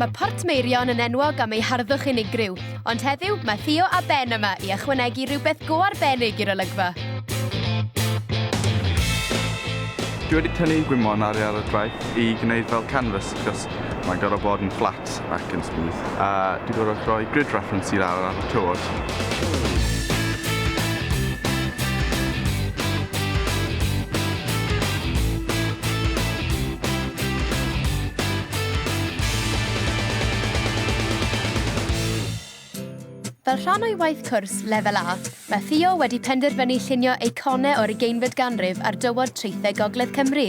Mae Portmeirion yn enwog am ei harddwch unigryw, ond heddiw mae Theo a Ben yma i ychwanegu rhywbeth go arbennig i'r olygfa. Dwi wedi tynnu gwymon ar ar y traeth i gwneud fel canvas achos mae'n gorfod bod yn flat ac yn smooth a dwi'n gorfod rhoi grid reference i lawr ar y tywod. Fel rhan o'i waith cwrs Lefel A, mae Theo wedi penderfynu llunio eiconau o'r ugeinfed ganrif ar dywod traethau Gogledd Cymru.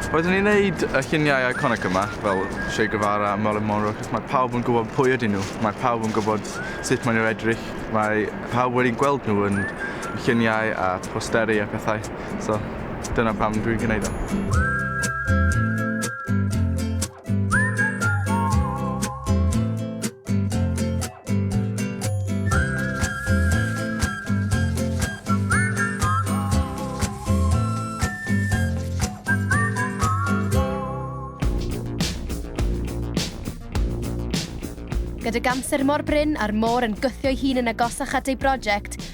Roeddwn i'n neud y lluniau iconic yma, fel Che Guevara, Marilyn Monroe, achos mae pawb yn gwybod pwy ydyn nhw. Mae pawb yn gwybod sut maen nhw'n edrych. Mae pawb wedi gweld nhw yn lluniau a posteri a pethau. So, dyna pam dwi'n gwneud o. Gyda gamser mor brin a'r môr yn gwthio'i hun yn agosach at ei brosiect,